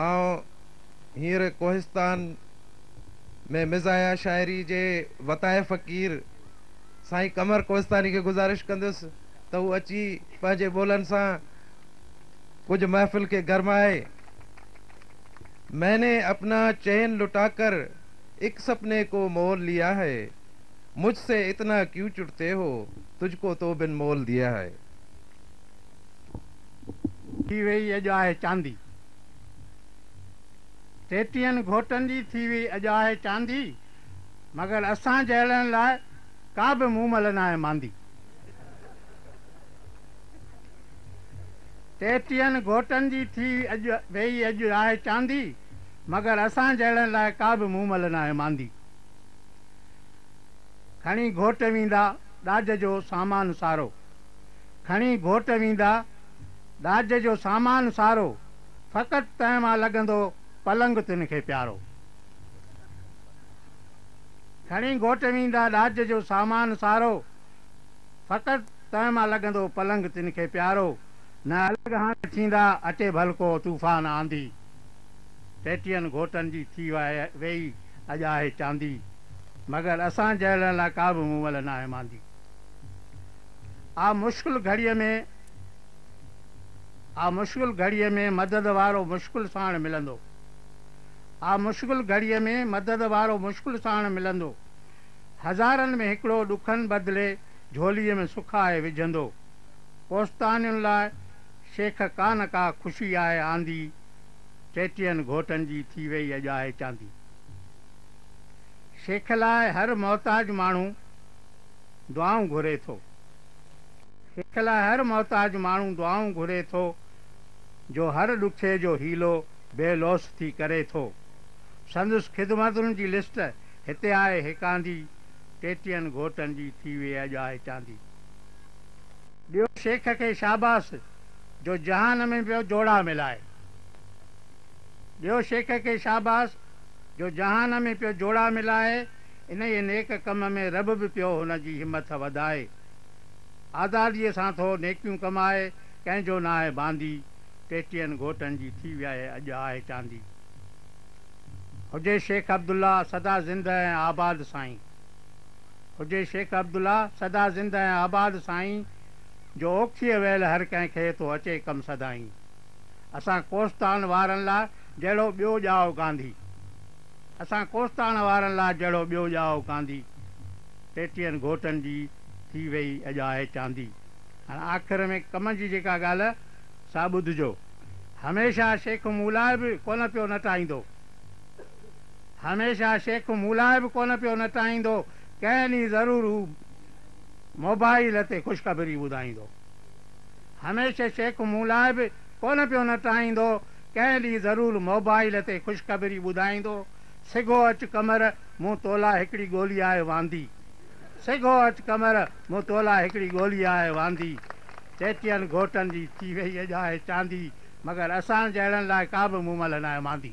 آئون هينئر ڪوهستان ۾ مزاحيه شاعري جي وتايي فقير سائين قمر ڪوهستاني کي گذارش ڪندس ته هو اچي پنهنجي ٻولن سان ڪجهه محفل کي گرمائي مين ني اپنا چين لٽا ڪر اک سپني ڪو مول ليا هي مجھ سي اتنا ڪيون چڙتي هو تجھ ڪو تو بن مول ديا هي. ٿي ويئي اڄ آهي چاندي. ٽيٽيهن گهوٽن جي ٿي ويئي اڄ آهي چاندي، مگر اسان جهڙن لاء ڪا به مومل ناهي ماندي. ٽيٽيهن گهوٽن جي ٿي ويئي اڄ آهي چاندي، مگر اسان جهڙن لاء ڪا به مومل ناهي ماندي. کڻي گهوٽ ويندا ڏاج جو سامان سارو. کڻي گهوٽ ويندا، ڏاج جو سامان سارو، فقط تنهن مان لڳندو پلنگ تن کي پيارو. کڻي گهوٽ ويندا، ڏاج جو سامان سارو، فقط تنهن مان لڳندو پلنگ تن کي پيارو. نه الڳ هاڻي ٿيندا، اچي ڀل ڪو طوفان آنڌي، ٽيٽين گهوٽن جي ٿي ويئي اڄ آهي چاندي، مگر اسان جهڙن لا ڪابه مون مل ناهي ماندي. آء مشڪل گهڙيء ۾، آء مشڪل گهڙيء ۾ مدد وارو مشڪل ساڻ ملندو، آء مشڪل گهڙيء ۾ مدد وارو مشڪل ساڻ ملندو، هزارن ۾ هڪڙو ڏکن بدلي جهوليء ۾ سک آهي وجهندو، ڪوستانين لاء شيخ ڪانه ڪا خوشي آهي آندي، ٽيٽين گهوٽن جي ٿي ويئي اڄ آهي چاندي. شيخ لاء هر محتاج ماڻهو. دعائون گهري ٿو. سک لاء هر محتاج ماڻهو دعائون گهري ٿو، جو هر ڏکي جو حيلو بي لوث ٿي ڪري ٿو. سندس خدمتن جي لسٽ هتي آهي هيڪاندي، ٽيٽين گهوٽن جي ٿي ويئي اڄ آهي چاندي. ڏيو شيخ کي شاباس جو جهان ۾ پيو جوڙا ملائي. ڏيو شيخ کي شاباس جو جهان ۾ پيو جوڙا ملائي. انهيء نيڪ ڪم ۾ رب به پيو هن جي همٿ وڌائي. آزاديء سان ٿو نيڪيون ڪمائي، ڪنهن جو ناهي باندي، ٽيٽين گهوٽن جي ٿي وياهي اڄ آهي چاندي. هجي شيخ عبدالله سدا زنده ۽ آباد سائين. هجي شيخ عبدالله سدا زنده ۽ آباد سائين، جو اوکيء ويل هر ڪنهن کي ٿو اچي ڪم سدائين. اسان ڪوستان وارن لا جهڙو ٻيو ڄائو گانڌي. اسان ڪوستاڻ وارن لا جهڙو ٻيو ڄائو ڪانڌي ٽيٽين گهوٽن جي ٿي وئي اڄ آهي چاندي هاڻ آخر ۾ ڪم جي جيڪا ڳاله سا ٻڌجو هميشه شيخ مون لاء به ڪونه پيو نٽائيندو هميشه شيخ مون لاء به ڪونه پيو نٽائيندو ڪنهن ڏينهن ضرور هو موبائيل تي خوشخبري ٻڌائيندو هميشه شيخ مون لاء به ڪونه پيو نٽائيندو ڪنهن ڏينهن ضرور موبائيل تي خوشخبري ٻڌائيندو، سگهو اچ قمر مون تولاء هڪڙي ڳولي آء واندي، سگهو اچ قمر مون تولاء هڪڙي ڳولي آء واندي، چيٽين گهوٽن جي ٿي وئي اڄ آء چاندي، مگر اسان جهڙن لاء ڪا به مون ملهه ناهي ماندي.